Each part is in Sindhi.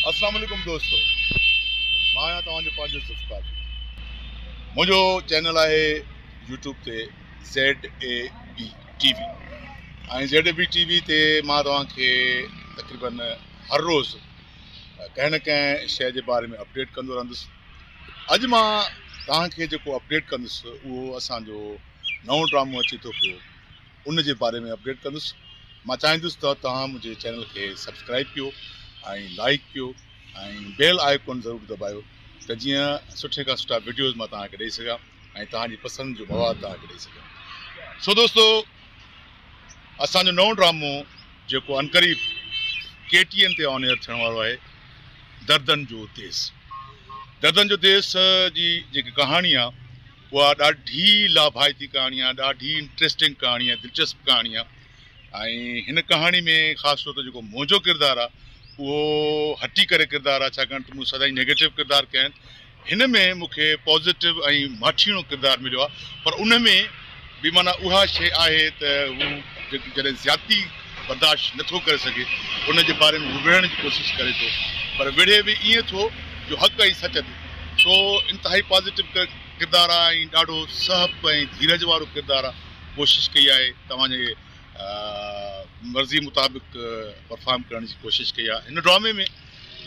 اسلام عليڪم دوستو مان آهيان توهان جو پنهنجو ذوالفقار منهنجو چينل آهي يوٽيوب تي Z A B T V ۽ Z A B T V تي مان توهان کي تقريبن هر روز ڪنهن نه ڪنهن شي جي باري ۾ اپڊيٽ ڪندو رهندس اڄ مان توهان کي جيڪو اپڊيٽ ڪندس اهو اسان جو نئون ڊرامو اچي ٿو پيو ان جي باري ۾ اپڊيٽ ڪندس مان چاهيندس ته توهان منهنجي چينل کي سبسڪرائب ڪيو ۽ لائڪ ڪيو ۽ بيل آئڪون ضرور دٻايو ته جيئن سٺي کان سٺا ويڊيوز مان توهان کي ڏيئي سگهان ۽ توهان جي پسند جو مواد توهان کي ڏيئي سگهان سو دوستو اسان جو نئون ڊرامو جيڪو انقريب ڪي ٽي اين تي آن ايئر ٿيڻ وارو آهي دردن جو ديس. دردن جو ديس جي جيڪي ڪهاڻي آ اها ڏاڍي لاڀائتي ڪهاڻي آ ڏاڍي انٽريسٽنگ ڪهاڻي آ دلچسپ ڪهاڻي آ ۽ هن ڪهاڻي ۾ خاص طور تي جيڪو منهنجو ڪردار آ اهو هٽي ڪري ڪردار آ ڇاڪاڻ ته مون سدائين نيگيٽو ڪردار ڪيا آهن هن ۾ مون کي پازيٽو ۽ ماٺيڻو ڪردار مليو آهي پر ان ۾ به معنيٰ اها شيء آهي ته هو جڏهن زيادتي برداشت نه ٿو ڪري سگهي ان جي باري ۾ هو وڙهڻ جي ڪوشش ڪري ٿو پر وڙهي به ائين ٿو جو حق ۽ سچ تي سو انتهائي پازيٽو ڪردار آهي ۽ ڏاڍو سهپ ۽ ڌيرج وارو ڪردار آهي ڪوشش ڪئي آهي توهان جي مرضي مطابق پرفارم ڪرڻ جي ڪوشش ڪئي آهي هن ڊرامي ۾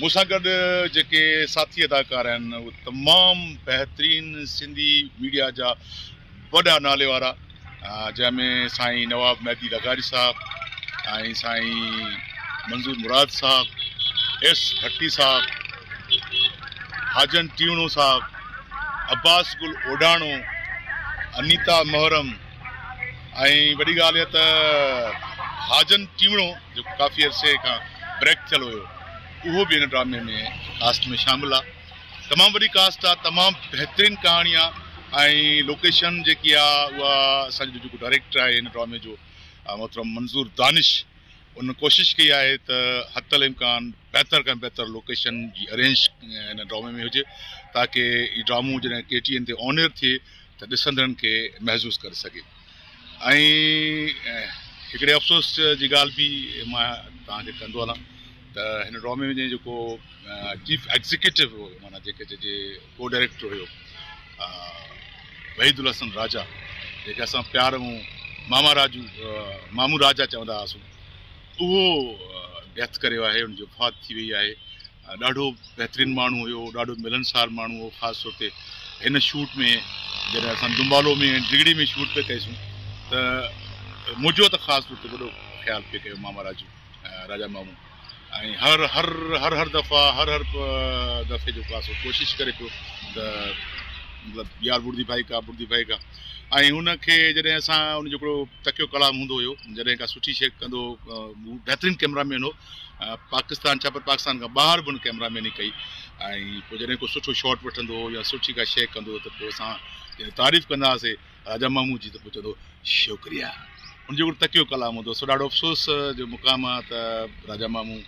مون سان گڏ جيڪي ساٿي اداڪار آهن اهي تمام بهترين سنڌي ميڊيا جا وڏا نالي وارا جنهن ۾ سائين نواب مهدي لغاري صاحب ۽ سائين منظور مراد صاحب ايس ڀٽي صاحب حاجن ٽيوڻو صاحب عباس گل اوڊاڻو انيتا محرم ۽ وڏي ڳالهه اها ته حاجن ٽيوڻو جيڪو ڪافي عرصي کان بريڪ ٿيل هيو اهو به هن ڊرامي ۾ ڪاسٽ ۾ شامل آهي تمام وڏي ڪاسٽ آهي تمام بهترين ڪهاڻي آهي ۽ لوڪيشن جيڪي آهي اها اسان جو جيڪو ڊائريڪٽر آهي هن ڊرامي جو محترم منظور دانش ان ڪوشش ڪئي آهي ته حت الامڪان بهتر کان بهتر لوڪيشن جي ارينج هن ڊرامي ۾ هجي تاڪي هي ڊرامو جڏهن ڪي ٽي اين تي آن ايئر ٿئي ته ڏسندڙن کي محظوظ ڪري سگهي ۽ هڪڙي افسوس جي ڳالهه به مان توهان کي ڪندو هلان ته هن ڊرامي ۾ جنهن جيڪو چيف ايگزيڪيوٽو هو معنيٰ جيڪي چئجي ڪو ڊائريڪٽر هيو وحيد الحسن راجا جيڪي اسان پيار مون ماما راجو مامو راجا چوندا هئاسون اهو ڊيٿ ڪري ويو آهي ان جي وفات ٿي وئي آهي ڏاڍو بهترين ماڻهو هيو ڏاڍو ملنسار ماڻهو هو خاص طور تي هن شوٽ ۾ جڏهن اسان دمبالو ۾ ڊگهڙي ۾ شوٽ پي ڪئيسون ته منهنجو ته خاص طور تي وڏو خيال پي ڪيو ماما راجو راجا مامو ۽ هر هر هر هر دفعا هر هر دفعي جو خاص ڪوشش ڪري پيو ته مطلب يار بردي ڀائي کا بردي ڀائي کا ۽ هن کي جڏهن اسان هن جو هڪڙو تکيو ڪلام هوندو هيو جڏهن ڪا سٺي شي ڪندو بهترين ڪيمرا مين هو پاڪستان ڇا پر پاڪستان کان ٻاهر به هن ڪئميرا ميني ڪئي ۽ پوء جڏهن ڪو سٺو شاٽ وٺندو هو يا سٺي ڪا شيء ڪندو هو ته پوء اسان جڏهن تعريف ڪندا هئاسي راجا مامو جي ته پوء چوندو هو شڪريا هن جو هڪڙو تکيو ڪلام هوندو هو سو ڏاڍو افسوس جو مقام آهي ته راجا مامو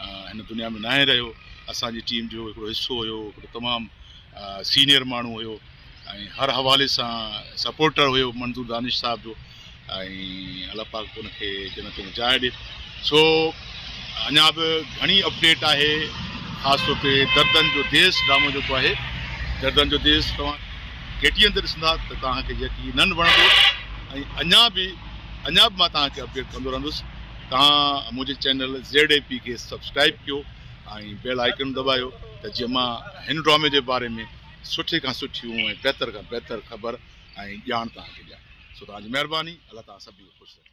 هن دنيا ۾ ناهي رهيو اسان جي ٽيم جو هڪڙو حصو هيو هڪڙو تمام سينيئر ماڻهو هيو ۽ هر حوالي سان سپورٽر هيو منظور دانش صاحب جو ۽ الله پاڪ ان کي جنت ۾ جاء ڏي سو اڃا به گهڻي اپڊيٽ آهي خاص طور تي دردن جو ديس ڊرامو جيڪو آهي دردن جو ديس توهان ڪي ٽي اين تي ڏسندا ته توهان کي يقينن وڻندو ۽ اڃا به اڃا به مان توهان کي اپڊيٽ ڪندو رهندس توهان منهنجي چينل زيڊ اي پي کي سبسڪرائب ڪيو ۽ بيل آئڪن دٻايو ته جيئن مان هن ڊرامي جي باري ۾ سٺي کان سٺيون ۽ بهتر کان بهتر خبر ۽ ڄاڻ توهان کي ڏيان سو توهان جي مهرباني الله توهان سڀني کي خوش رکي.